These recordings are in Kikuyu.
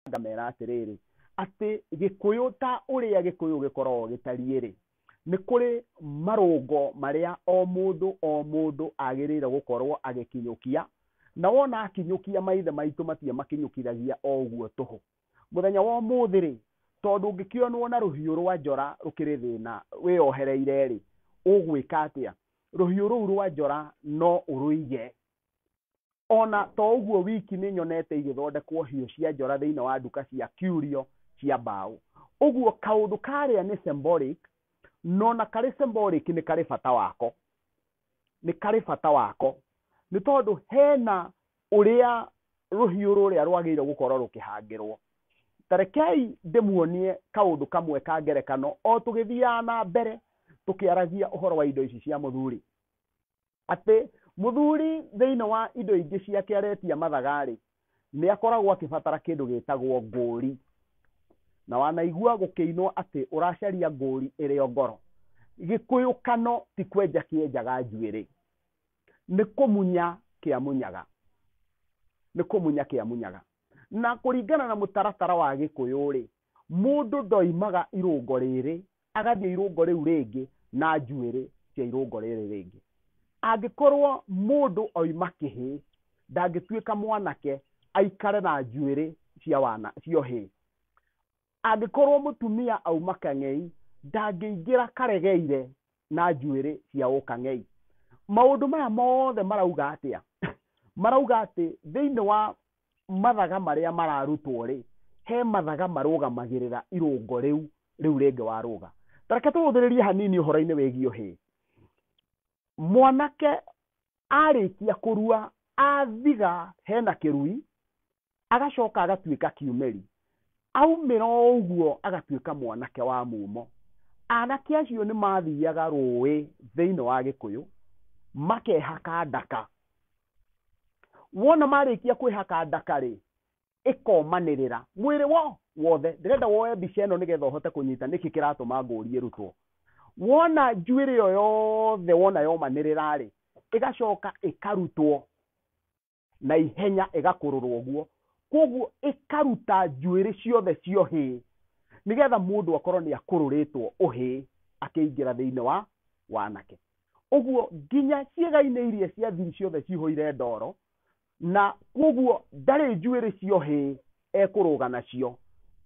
ngamera atĩrĩrĩ atĩ gĩkũyũ ta ũrĩa gĩkũyũ gĩkoragwo gĩtariĩ rĩ nĩ kũrĩ marũngo marĩa o mũndũ o mũndũ agĩrĩire gũkorwo agĩkinyũkia na wona akinyũkia maithe maitũ matirĩ makinyũkithagia o ũguo tũhũ mũthenya wa ũmũthĩ rĩ tondũ ũngĩkĩonwo na rũhiũ rwa njora rũkĩrĩ thĩna wĩyohereire rĩ ũgwĩka atĩa rũhiũ rũu rwa njora no ũrũige ona to ũguo wiki nĩ nyonete igĩthondekwo hiũ cia njora thĩinĩ wa nduka cia curio cia mbaũ ũguo kaũndũ karĩa nĩ symbolic nona karĩ symbolic nĩ karĩ bata wako nĩ karĩ bata wako nĩ tondũ hena ũrĩa rũhiũ rũrĩa rwagĩrĩirwo gũkorwo rũkĩhangĩrwo tarekei ndĩmuonie kaũndũ kamwe ka ngerekano o tũgĩthiaga na mbere tũkĩaragia ũhoro wa indo ici cia mũthuri atĩ mũthuri thĩinĩ wa indo ingĩ ciake aretia mathagarĩ nĩ akoragwo akĩbatara kĩndũ gĩtagwo ngũũri na wanaigua gũkĩinwo atĩ ũracaria ngũũri ĩrĩ o ngoro gĩkũyũkano ti kwenja kĩenjaga njuĩrĩ nĩ kũmunya kĩamunyaga nĩ kũmunya kĩamunyaga na kũringana na mũtaratara wa gĩkũyũ rĩ mũndũ ndoimaga irũngo rĩrĩ agathiĩ irũngo rĩu rĩngĩ na njuĩrĩ cia irũngo rĩrĩ rĩngĩ angĩkorwo mũndũ oima kĩhĩ ndangĩtuĩka mwanake aikare na njuĩrĩ cia wana cia ũhĩĩ angĩkorwo mũtumia auma kang'ei ndangĩingĩra karegeire na njuĩrĩ cia ũkang'ei maũndũ maya mothe marauga atĩa marauga atĩ thĩinĩ wa mathaga marĩa mararutwo-rĩ, he mathaga marũgamagĩrĩra irũngo rĩu, rĩu rĩngĩ warũga. Ta reke tũhũthĩrĩrie hanini ũhoro-inĩ wĩgiĩ ũhĩĩ. Mwanake arĩkia kũrua, athiga hena kĩrui, agacoka agatuĩka kiumĩri. Aumĩra o ũguo agatuĩka mwanake wa mumo. Anake acio nĩ mathiaga rũĩ thĩiniĩ wa Gĩkũyũ, makehaka ndaka, wona marĩkia kwĩhaka ndakarĩ ĩkomanĩrĩra mwĩrĩ wo wothe ndĩrenda woe mbica ĩno nĩgetha ũhote kũnyita nĩkĩ kĩratũma ngũrie rutwo wona njuĩrĩ ĩyo yothe wona yomanĩrĩra rĩ ĩgacoka ĩkarutwo na ihenya ĩgakũrũrwo ũguo koguo ĩkaruta njuĩrĩ ciothe cia ũhĩĩ nĩgetha mũndũ akorwo nĩ akũrũrĩtwo ũhĩĩ akĩingĩra thĩinĩ wa wanake ũguo nginya ciĩga-inĩ iria cia thiri ciothe cihũire ndoro na koguo ndarĩ njuĩrĩ cio hĩ ekũrũga nacio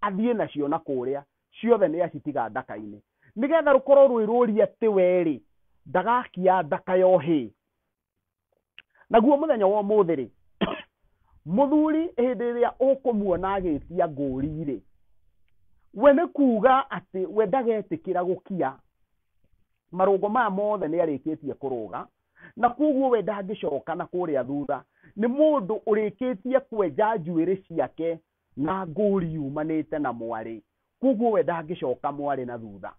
athiĩ nacio na kũrĩa ciothe nĩ acitiga ndaka-inĩ nĩgetha rũkorwo rwĩ rũri atĩ we rĩ ndagakia ndaka yo hĩ naguo mũthenya wa ũmũthĩ rĩ mũthuri hĩndĩ ĩrĩa ũkũmuona agĩtia ngũri rĩ we nĩ kuuga atĩ we ndagetĩkĩra gũkia marũngo maya mothe nĩ arĩkĩtie kũrũga na koguo we ndangĩcoka na kũrĩa thutha nĩ mũndũ ũrĩkĩtie kwenja njuĩrĩ ciake Na ngũũri yumanĩte na mwarĩ, kwoguo we ndangĩcoka mwarĩ na thutha.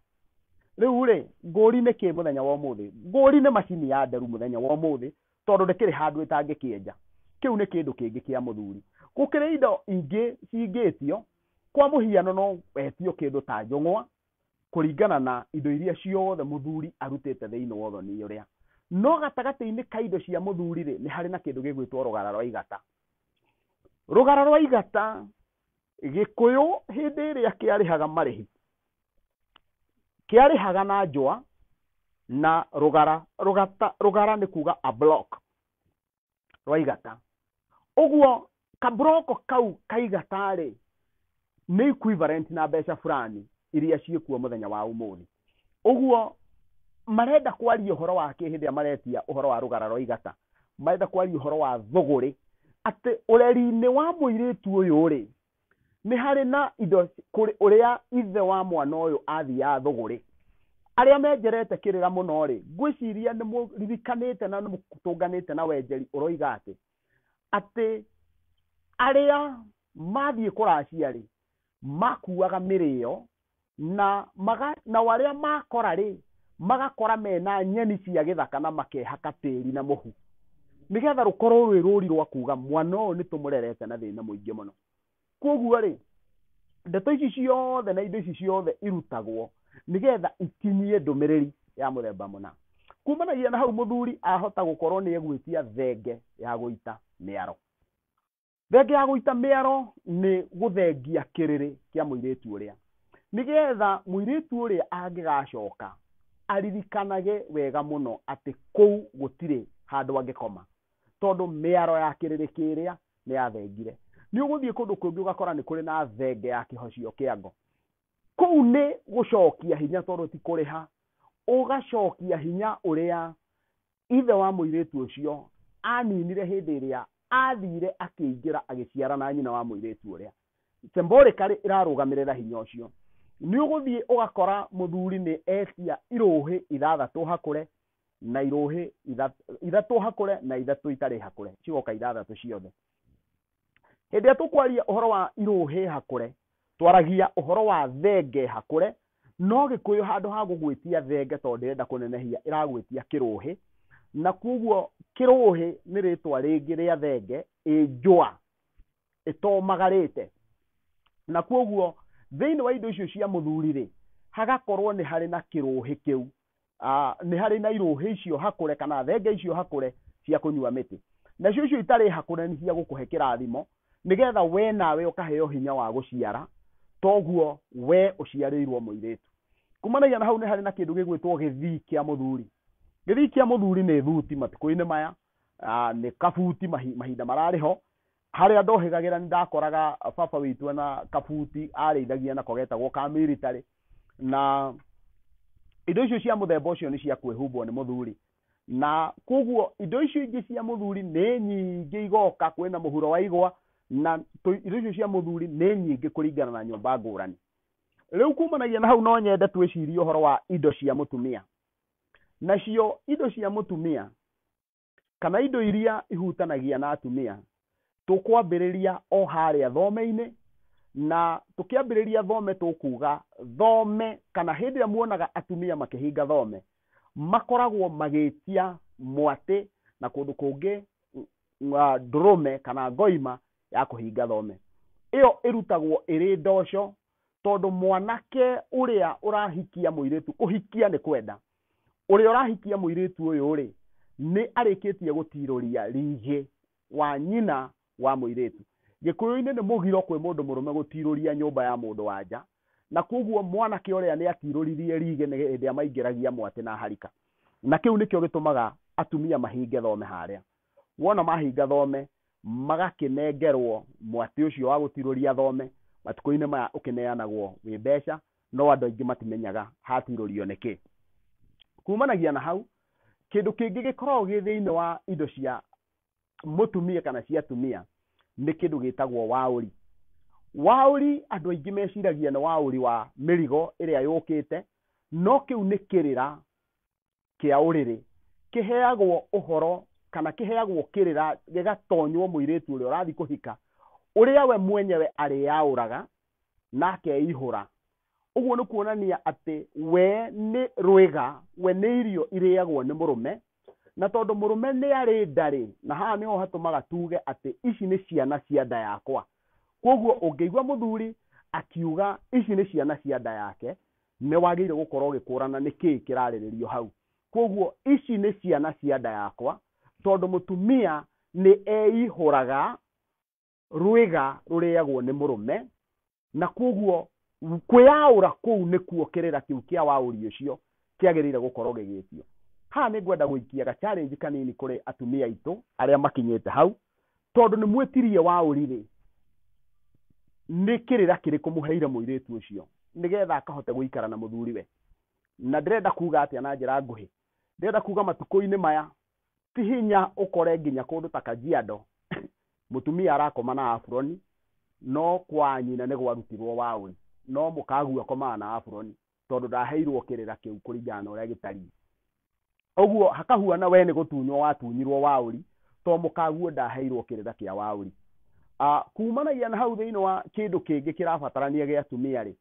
Rĩu-rĩ, ngũũri nĩ kĩĩ mũthenya wa ũmũthĩ? Ngũũri nĩ macini ya nderu mũthenya wa ũmũthĩ, tondũ ndĩkĩrĩ handũ ĩtangĩkĩenja. Kĩu nĩ kĩndũ kĩngĩ kĩa mũthuri. Gũkĩrĩ indo ingĩ cingĩtio, kwa mũhiano no wetio kĩndũ ta njũng'wa, kũringana na indo iria ciothe mũthuri arutĩte thĩinĩ wa ũthoni ũrĩa. No gatagatĩ-inĩ ka indo cia mũthuri-rĩ, nĩ harĩ na kĩndũ gĩgwĩtwo rũgara rwa igata. rũgara rwa igata gĩkũyũ hĩndĩ ĩrĩa kĩarĩhaga marĩhi kĩarĩhaga na njũa na rũgara rũgata rũgara nĩ kuga a block rwa igata ũguo kaburoko kau kaigatarĩ nĩ equivalent na mbeca fulani iria ciĩkuo mũthenya wa ũmũthĩ ũguo marenda kwaria ũhoro wa kĩ hĩndĩ ĩrĩa maretia ũhoro wa rũgara rwa igata marenda kwaria ũhoro wa thũgũrĩ atĩ ũreri-inĩ wa mũirĩtu ũyũ rĩ nĩ harĩ na indo kũrĩ ũrĩa ithe wa mwana ũyũ athiaga thũgũrĩ arĩa menjerete kĩrĩra mũno rĩ ngwĩciria nĩ mũririkanĩte na nĩ mũtũnganĩte na wenjeri ũroiga atĩ atĩ arĩa mathiĩ kũracia rĩ makuaga mĩrĩo na maga, nao arĩa makora rĩ magakora mena nyeni cia gĩthaka na makehaka tĩri na mũhu nĩgetha rũkorwo rwĩ rũri rwa kuga mwana ũyũ nĩ tũmũrerete na thĩna mũingĩ mũno koguo rĩ ndeto ici ciothe na indo ici ciothe irutagwo nĩgetha ikinyie ndũmĩrĩri ya mũthemba mũna kumanagia na hau mũthuri ahota gũkorwo nĩ egwĩtia thenge ya gũita mĩaro. thenge ya gũita mĩaro nĩ gũthengia kĩrĩrĩ kĩa mũirĩtu ũrĩa nĩgetha mũirĩtu ũrĩa angĩgacoka aririkanage wega mũno atĩ kũu gũtirĩ handũ angĩkoma tondũ mĩaro ya kĩrĩrĩ kĩrĩa nĩ yathengire nĩ ũgũthiĩ kũndũ kũngĩ ũgakora nĩ kũrĩ na thenge ya kĩhocio kĩa ngo kũu nĩ gũcokia hinya tondũ ti kũrĩha ũgacokia hinya ũrĩa Ithe wa mũirĩtu ũcio aaninire hĩndĩ ĩrĩa aathiire akĩingĩra agĩciara na nyina wa mũirĩtu ũrĩa. Symbolically ĩrarũgamĩrĩra hinya ũcio. Nĩ ũgũthiĩ ũgakora mũthuri nĩ etia irũhĩ ithathatũ hakũre na irũhĩ ithatũ hakũre na ithatũ itarĩ hakũre cigoka ithathatũ ciothe. hĩndĩ ĩrĩa tũkwaria ũhoro wa irũhĩ hakũre twaragia ũhoro wa thenge hakũre no gĩkũyũ handũ ha gũgwĩtia thenge tondũ ndĩrenda kũnenehia ĩragwĩtia kĩrũhĩ na kuoguo kĩrũhĩ nĩ rĩtwa rĩngĩ rĩa thenge ĩ njũa ĩtomagarĩte na kuoguo thĩinĩ wa indo icio cia mũthuri rĩ hagakorwo nĩ harĩ na kĩrũhĩ kĩu ah, nĩ harĩ na irũhĩ icio hakũre kana thenge icio hakũre cia kũnyua mĩtĩ nacio icio itarĩ hakũre nĩ cia gũkũhe kĩrathimo nĩgetha we nawe ũkaheo hinya wa gũciara toguo we ũciarĩirwo mũirĩtu kumanagia na hau nĩ harĩ na kĩndũ gĩgwĩtwo gĩthii kĩa mũthuri gĩthii kĩa mũthuri nĩ thuti matukũ-inĩ maya ah, nĩ kabuti mahi- mahinda mararĩ ho Harĩa ndohĩgagĩra nĩ ndakoraga baba witũ ena kabuti arĩithagia nako getagwo ka military na indo icio cia mũthemba ũcio nĩ cia kwĩhumbwo nĩ mũthuri na koguo indo icio ingĩ cia mũthuri nĩ nyingĩ igoka kwĩna mũhuro wa igwa na indo icio cia mũthuri nĩ nyingĩ kũringana na nyũmba ngũrani rĩu kumanagia na hau no nyende twĩcirie ũhoro wa indo cia mũtumia nacio indo cia mũtumia kana indo iria ihutanagia na atumia tũkwambĩrĩria o harĩa thome-inĩ na tũkĩambĩrĩria thome tũkuga thome kana hĩndĩ ĩrĩa muonaga atumia makĩhinga thome makoragwo magĩtia mwatĩ na kũndũ kũngĩ nga- ndũrũme kana ngoima ya kũhinga thome ĩyo ĩrutagwo ĩrĩ ndoco tondũ mwanake ũrĩa ũrahikia mũirĩtu kũhikia nĩ kwenda ũrĩa ũrahikia mũirĩtu ũyũ-rĩ nĩ arĩkĩtie gũtirũria rĩngĩ wa nyina wa mũirĩtu. Gĩkũyũ-inĩ nĩ mũgiro kwĩ mũndũ mũrũme gũtirũria nyũmba ya mũndũ wa nja, na kwoguo mwanake ũrĩa nĩ atirũririe rĩgĩ nĩ hĩndĩ ĩrĩa maingĩragia mwatĩ na harika. Na kĩu nĩkĩo gĩtũmaga atumia mahinge thome harĩa. Wona mahinga thome, magakĩnengerwo mwatĩ ũcio wa gũtirũria thome, matukũ-inĩ maya ũkĩneanagwo wĩ mbeca, no andũ aingĩ matimenyaga hatirũrio nĩkĩ kumanagia na hau kĩndũ kĩngĩ gĩkoragwo gĩ thĩinĩ wa indo cia mũtumia kana cia atumia nĩ kĩndũ gĩtagwo waũri waũri andũ aingĩ meciragia nĩ waũri wa mĩrigo ĩrĩa yũkĩte no kĩu nĩ kĩrĩra kĩa ũrĩrĩ kĩheagwo ũhoro kana kĩheagwo kĩrĩra gĩgatonywo mũirĩtu ũrĩa ũrathiĩ kũhika ũrĩa we mwenyewe arĩyaũraga na akeihũra ũguo nĩ kuonania atĩ we nĩ rwĩga we nĩ irio irĩagwo nĩ mũrũme na tondũ mũrũme nĩ arĩ ndarĩ na haha nĩho hatũmaga tuge atĩ ici nĩ ciana cia nda yakwa kwoguo ũngĩigua mũthuri akiuga ici nĩ ciana cia nda yake Nĩ wagĩrĩire gũkorwo ũgĩkũrana nĩ kĩĩ kĩrarĩrĩrio hau. Kwoguo ici nĩ ciana cia nda yakwa, tondũ mũtumia nĩ eihũraga rwĩga rũrĩagwo nĩ mũrũme, na kwoguo kwĩyaũra kũu nĩkuo kĩrĩra kĩu kĩa waũri ũcio kĩagĩrĩire gũkorwo gĩgĩtio. Haha nĩ ngwenda gũikia ga challenge kanini kũrĩ atumia aitũ arĩa makinyĩte hau, tondũ nĩ mwĩtirie wa ũrĩrĩ nĩ kĩrĩra kĩrĩkũ mũheire mũirĩtu ũcio nĩgetha akahote gũikara na mũthuriwe na ndĩrenda kuga atĩa na njĩra nguhĩ ndĩrenda kuga matukũ-inĩ maya ti hinya ũkore nginya kũndũ ta kajiado mũtumia arakoma na aburoni no kwa nyina nĩ gwarutirwo waũri no mũkagu akomaga na aburoni tondũ ndaheirwo kĩrĩra kĩu kũringana na ũrĩa gĩtariĩ ũguo hakahuana we nĩ gũtunywo watunyirwo waũri to mũkaguo ndaheirwo kĩrĩra kĩa waũri uh, kumanagia na hau thĩinĩ wa kĩndũ kĩngĩ kĩrabatarania gĩa atumia rĩ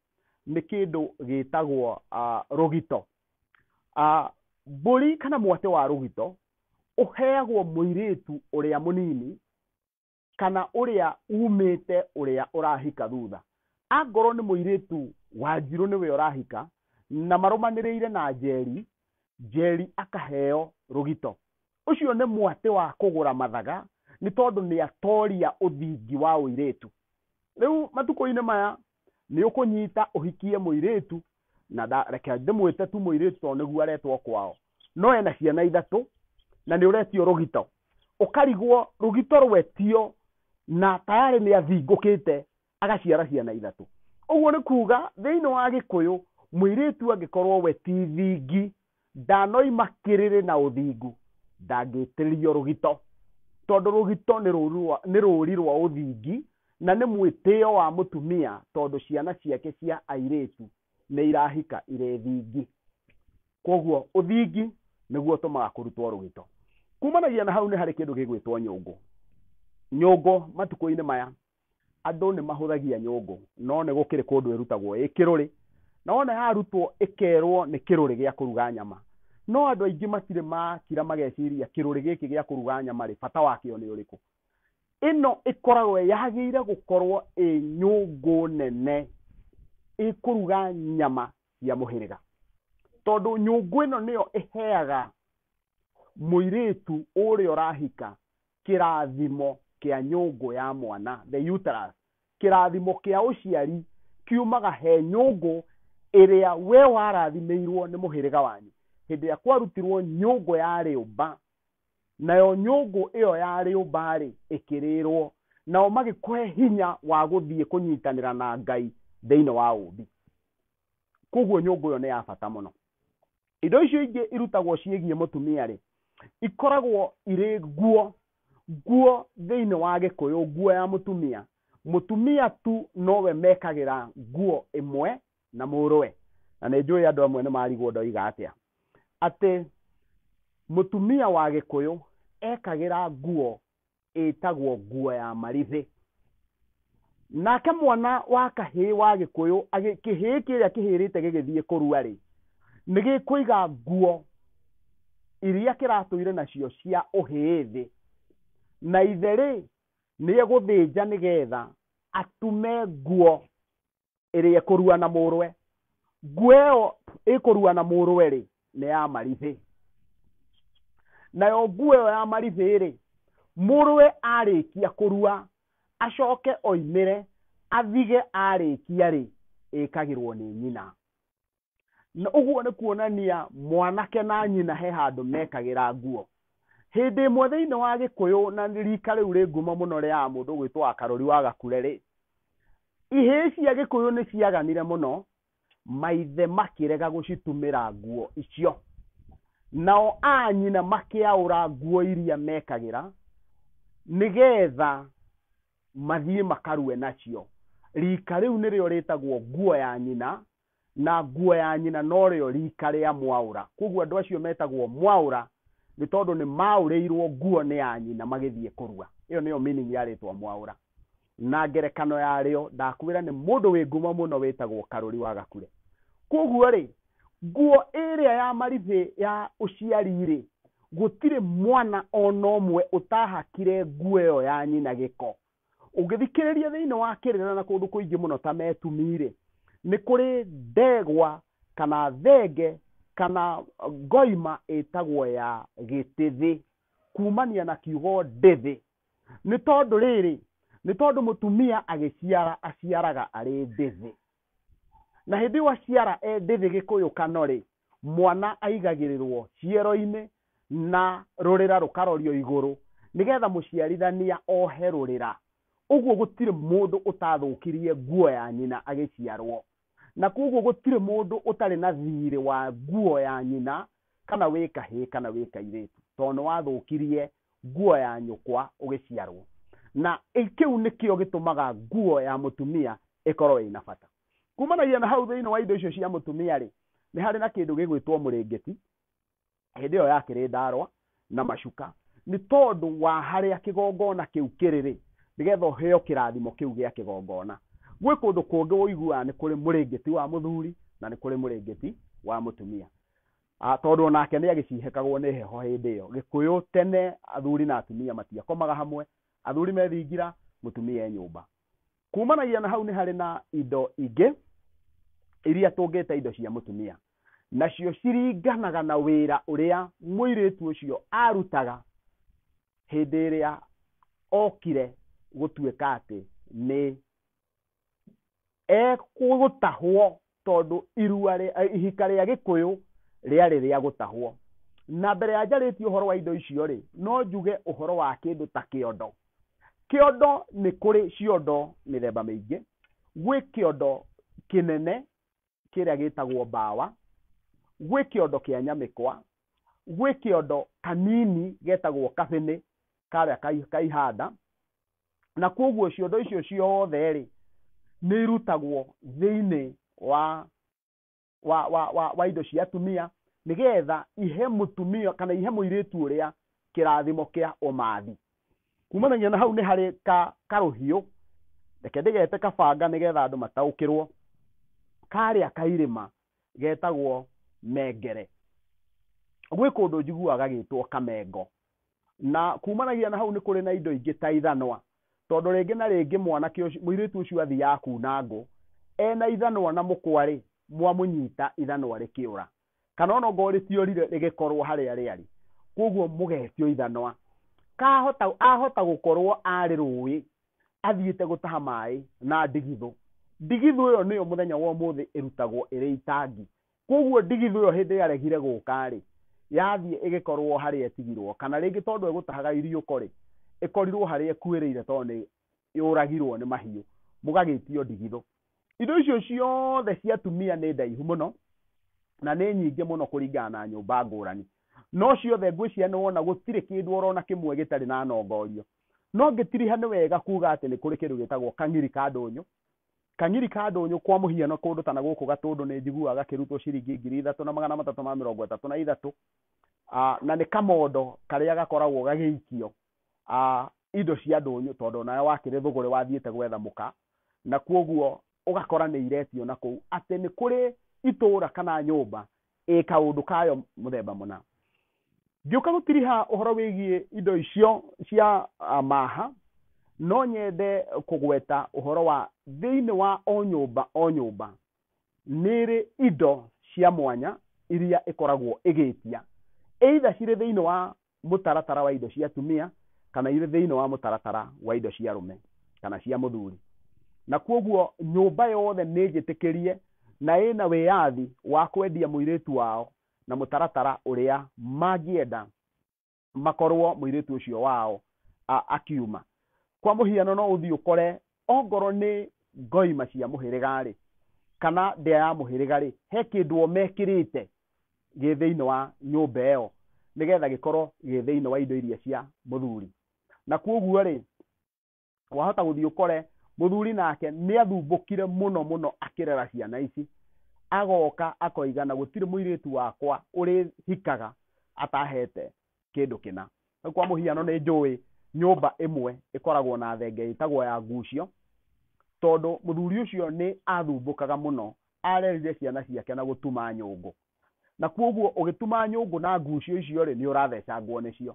nĩ kĩndũ gĩtagwo uh, rũgito uh, mbũri kana mwatĩ wa rũgito ũheagwo mũirĩtu ũrĩa mũnini kana ũrĩa umĩte ũrĩa ũrahika thutha angorwo nĩ mũirĩtu wanjirũ nĩwe ũrahika na marũmanĩrĩire na njeri njeri akaheo rũgito ũcio nĩ mwatĩ wa kũgũra mathaga nĩ tondũ nĩ atoria ũthingi wa ũirĩtu rĩu matukũ-inĩ maya nĩ ũkũnyita ũhikie mũirĩtu na nda- reke ndĩmwĩte tu mũirĩtu tondũ nĩguo aretwo kwao no ena ciana ithatũ na nĩ ũretio rũgito ũkarigwo rũgito rwetio na tayarĩ nĩ athingũkĩte agaciara ciana ithatũ ũguo nĩ kuga thĩinĩ wa gĩkũyũ mũirĩtu angĩkorwo we ti thingi Ndanoima kĩrĩrĩ na ũthingu, ndangĩĩtĩrĩrio rũgito, tondũ rũgito nĩ rũũri rwa, nĩ rũũri rwa ũthingi, na nĩ mwĩtĩo wa mũtumia tondũ ciana ciake cia airĩtu nĩ irahika irĩ thingi. Kwoguo ũthingi nĩguo ũtũmaga kũrutwo rũgito. Kuumanagia na hau nĩ harĩ kĩndũ gĩgwĩtwo nyũngũ. Nyũngũ matukũ-inĩ maya Andũ nĩ mahũthagia nyũngũ, no nĩ gũkĩrĩ kũndũ ĩrutagwo ĩ kĩrũrĩ, na wona yarutwo ĩkerwo nĩ kĩrũrĩ gĩa kũruga nyama. No andũ aingĩ matirĩ makira mageciria kĩrũrĩ gĩkĩ gĩa kũruga nyama rĩ, bata wakĩo nĩ ũrĩkũ. Ĩno ĩkoragwo yagĩrĩire gũkorwo ĩ nyũngũ nene ĩkũruga nyama cia mũhĩrĩga. Tondũ nyũngũ ĩno nĩyo ĩheaga mũirĩtu ũrĩa ũrahika kĩrathimo kĩa nyũngũ ya mwana, the uterus, kĩrathimo kĩa ũciari kiumaga he nyũngũ ĩrĩa we warathimĩirwo nĩ mũhĩrĩga wanyu hĩndĩ ĩrĩa kwarutirwo nyũngũ ya rĩũmba nayo nyũngũ ĩyo ya rĩũmba-rĩ ĩkĩrĩrwo nao magĩkũhe hinya wa gũthiĩ kũnyitanĩra na ngai thĩinĩ wa ũmbi koguo nyũngũ ĩyo nĩ ya bata mũno indo icio ingĩ irutagwo ciĩgiĩ mũtumia rĩ ikoragwo irĩ nguo nguo thĩinĩ wa gĩkũyũ nguo ya mũtumia mũtumia tu nowe mekagĩra nguo ĩmwe na mũrũwe na nĩ njũĩ andũ amwe nĩ marigwo ndoiga atĩa atĩ mũtumia wa gĩkũyũ ekagĩra nguo ĩtagwo nguo ya marĩthĩ nake mwana wa kahĩĩ wa gĩkũyũ agĩ- kĩhĩĩ kĩrĩa kĩhĩrĩte gĩgĩthiĩ kũrua rĩ nĩ gĩkũiga nguo iria kĩratũire nacio cia ũhĩĩ thĩ na ithe rĩ nĩ egũthĩnja nĩgetha atume nguo ĩrĩa ĩkũrua na mũrwe nguo ĩyo ĩkũrua na mũrwe rĩ nĩ ya maribĩ nayo nguo ĩyo ya maribĩ rĩ mũrwe arĩkia kũrua acoke oimĩre athige arĩkia rĩ ĩkagĩrwo nĩ nyina na ũguo nĩ kuonania mwanake na nyina he handũ mekagĩra nguo hĩndĩ ĩmwe thĩinĩ wa gĩkũyũ na rika rĩu rĩ ngumo mũno rĩa mũndũ gwĩtwo wa karori wa gakure rĩ ihĩĩ cia gĩkũyũ nĩ ciaganire mũno maithe makĩrega gũcitumĩra nguo icio nao a nyina makĩaũra nguo iria mekagĩra nĩgetha mathiĩ makarue nacio rika rĩu nĩrĩo rĩtagwo nguo ya nyina na nguo ya nyina no rĩo riika rĩa mwaũra. Kwoguo andũ acio metagwo mwaũra nĩ tondũ nĩ maaũrĩirũo nguo nĩ a nyina magĩthiĩ kũrua. Ĩyo nĩyo meaning ya rĩtwa mwaũra. Na ngerekano ya rĩo ndakwĩra nĩ mũndũ wĩ ngumo mũno wĩtagwo Karũri wa Gakure. Kwoguo rĩ, nguo ĩrĩa ya maribĩ ya ũciari rĩ, gũtirĩ mwana o na ũmwe ũtahakire nguo ĩyo ya nyina gĩko. ũngĩthikĩrĩria thĩinĩ wa kĩrĩra na kũndũ kũingĩ mũno ta metumi-rĩ nĩ kũrĩ ndegwa kana thenge kana ngoima ĩtagwo ya gĩtĩthĩ kumania na kiugo ndĩthĩ nĩ tondũ rĩrĩ nĩ tondũ mũtumia agĩciara aciaraga arĩ ndĩthĩ na hĩndĩ ĩyo aciara e ndĩthĩ gĩkũyũ kanorĩ mwana aigagĩrĩrwo ciero-inĩ na rũrĩra rũkarorio igũrũ nĩgetha mũciarithania ohe rũrĩra ũguo gũtirĩ mũndũ ũtathũkirie nguo ya nyina agĩciarwo na koguo gũtirĩ mũndũ ũtarĩ na thirĩ wa nguo ya nyina kana wĩ kahĩĩ kana wĩ kairĩtu tondũ nĩ wathũkirie nguo ya nyũkwa ũgĩciarwo na kĩu nĩkĩo gĩtũmaga nguo ya mũtumia ĩkorwo ĩna bata kumanagia na hau thĩinĩ wa indo icio cia mũtumia rĩ nĩ harĩ na kĩndũ gĩgwĩtwo mũrĩngĩti hĩndĩ ĩyo yakĩrĩ ndarwa na macuka nĩ tondũ wa harĩa kĩgongona kĩu kĩrĩ rĩ nĩgetha ũheo kĩrathimo kĩu gĩa kĩgongona gwĩ kũndũ kũngĩ ũiguaga nĩ kũrĩ mũrĩngĩti wa mũthuri na nĩ kũrĩ mũrĩngĩti wa mũtumia Ah, tondũ o nake nĩ agĩcihekagwo nĩ heho hĩndĩ ĩyo gĩkũyũ tene athuri na atumia matiakomaga hamwe athuri methingira mũtumia e nyũmba kumanagia na hau nĩ harĩ na indo ingĩ iria tũngĩta indo cia mũtumia nacio ciringanaga na wĩra ũrĩa mũirĩtu ũcio arutaga hĩndĩ ĩrĩa okire gũtuĩka atĩ nĩ egũtahwo tondũ irua rĩa- ihika rĩa gĩkũyũ rĩarĩ rĩa gũtahwo na mbere ya njarĩtie ũhoro wa indo icio rĩ no njuge ũhoro wa kĩndũ ta kĩondo kĩondo nĩ kũrĩ ciondo mĩthemba mĩingĩ gwĩ kĩondo kĩnene kĩrĩa gĩtagwo mbawa gwĩ kĩondo kĩa nyamĩkwa gwĩ kĩondo kanini getagwo kabĩnĩ karĩa kai- kaihanda na kwoguo ciondo icio ciothe rĩ nĩ irutagwo thĩinĩ wa wa, wa, wa, wa indo cia atumia nĩgetha ihe mũtumia kana ihe mũirĩtu ũrĩa kĩrathimo kĩa ũmathi kumana nginya na hau nĩ harĩ ka karũhiũ reke ndĩgete kabanga nĩgetha andũ mataũkĩrwo karĩa kairĩma getagwo mengere gwĩ kũndũ njiguaga gĩtwo kamengo na kumanagia na hau nĩ kũrĩ na indo ingĩ ta ithanwa tondũ rĩngĩ na rĩngĩ mwanake ũcio mũirĩtu ũcio athiaga kuna ngũ ena ithanwa na mũkwarĩ mwamũnyita ithanwa rĩkĩũra kana ona ongorwo rĩtiorire rĩgĩkorwo harĩa rĩarĩ koguo mũgetio ithanwa kahota ahota gũkorwo arĩ rũĩ athiĩte gũtaha maĩ na ndigithũ ndigithũ ĩyo nĩyo mũthenya wa ũmũthĩ ĩrutagwo ĩrĩ itangi koguo ndigithũ ĩyo hĩndĩ yaregire gũka rĩ yathiĩ ĩgĩkorwo harĩa ĩtigirwo kana rĩngĩ tondũ egũtahaga iriũko rĩ ĩkorirwo harĩa ĩkuĩrĩire tondũ nĩ yũragirwo nĩ mahiũ mũgagĩtio ndigithũ indo icio ciothe cia atumia nĩ ndaihu mũno na nĩ nyingĩ mũno kũringana na nyũmba ngũrani no ciothe ngwĩciria nĩ wona gũtirĩ kĩndũ orona kĩmwe gĩtarĩ na nongorio no ngĩtiriha nĩ wega kuga atĩ nĩ kũrĩ kĩndũ gĩtagwo kang'iri ka ndũnyũ kang'iri ka ndũnyũ kwa mũhiano kũndũ ta na gũkũ gatũndũ nĩ njiguaga gakĩrutwo ciringi ngiri ithatũ na magana matatũ ma mĩrongo ĩtatũ na ithatũ na nĩ kamondo karĩa gakoragwo gagĩikio a indo cia ndũnyũ tondũ onawe wakĩrĩ thũgũrĩ wathiĩte gwetha mũka na kwoguo ũgakora nĩ iretio na kũu atĩ nĩ kũrĩ itũra kana nyũmba ĩ kaũndũ kayo mũthemba mũna. Ngĩũka gũtiriha ũhoro wĩgiĩ indo icio cia maha no nyende kũgweta ũhoro wa thĩinĩ wa o nyũmba o nyũmba nĩ ĩrĩ indo cia mwanya iria ĩkoragwo ĩgĩtia either cirĩ thĩinĩ wa mũtaratara wa indo cia atumia kana irĩ thĩinĩ wa mũtaratara wa indo cia arũme kana cia mũthuri na kwoguo nyũmba yothe nĩ njĩtĩkĩrie na ĩna wĩyathi wa kwendia mũirĩtu wao na mũtaratara ũrĩa mangĩenda makorwo mũirĩtu ũcio wao akiuma. Kwa mũhiano no ũthiĩ ũkore Ongorwo nĩ ngoima cia mũhĩrĩga-rĩ, kana ndĩa ya mũhĩrĩga-rĩ, he kĩndũ o mekĩrĩte gĩ thĩinĩ wa nyũmba ĩyo, nĩgetha gĩkorwo gĩ thĩinĩ wa indo iria cia mũthuri. Na kuoguo-rĩ, wahota gũthiĩ ũkore mũthuri nake nĩathumbũkire mũno mũno akĩrera ciana ici, agoka akoiga na gũtirĩ mũirĩtu wakwa ũrĩhikaga atahete kĩndũ kĩna rĩu kwa mũhiano nĩ njũĩ nyũmba ĩmwe ĩkoragwo na thenge ĩtagwo ya ngucio tondũ mũthuri ũcio nĩ athumbũkaga mũno arerire ciana ciake na gũtuma nyũngũ na kwoguo ũgĩtuma nyũngũ na ngucio icio rĩ nĩ ũrathecangwo nĩcio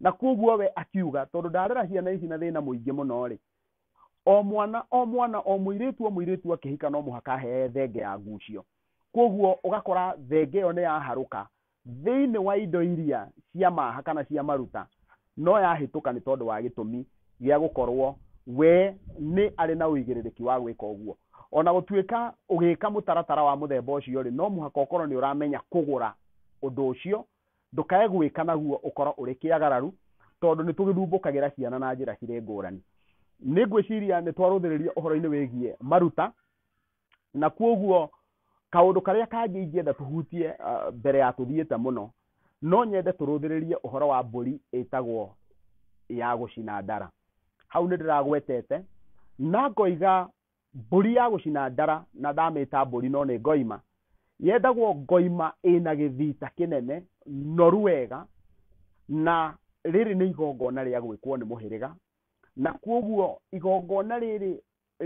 na kwoguo we akiuga tondũ ndarera ciana ici na thĩna mũingĩ mũno rĩ o mwana o mwana o mũirĩtu o mũirĩtu akĩhika no mũhaka ahee thenge ya ngucio kwoguo ũgakora thenge ĩyo nĩ yaharũka thĩinĩ wa indo iria cia maha kana cia maruta no yahĩtũka nĩ tondũ wa gĩtũmi gĩa gũkorũo we nĩ arĩ na ũigĩrĩrĩki wa gwĩka ũguo. O na gũtuĩka ũgĩka mũtaratara wa mũthemba ũcio-rĩ, no mũhaka ũkorũo nĩ ũramenya kũgũra ũndũ ũcio, ndũkae gwĩka naguo ũkorũo ũrĩ kĩagararu, tondũ nĩ tũgĩthumbũkagĩra ciana na njĩra cirĩ ngũrani. Nĩ ngwĩciria nĩ twarũthĩrĩria ũhoro-inĩ wĩgiĩ maruta. na kwoguo kaũndũ karĩa kangĩ ingĩenda tũhutie ah, mbere ya tũthiĩte mũno no nyende tũrũthĩrĩrie ũhoro wa mbũri ĩtagwo ya gũcina ndara hau nĩ ndĩragwetete na ngoiga mbũri ya gũcina ndara na ndamĩta mbũri no nĩ ngoima yendagwo ngoima ĩna gĩthita kĩnene noru wega na rĩrĩ nĩ igongona rĩa gwĩkwo nĩ mũhĩrĩga na kwoguo igongona rĩrĩ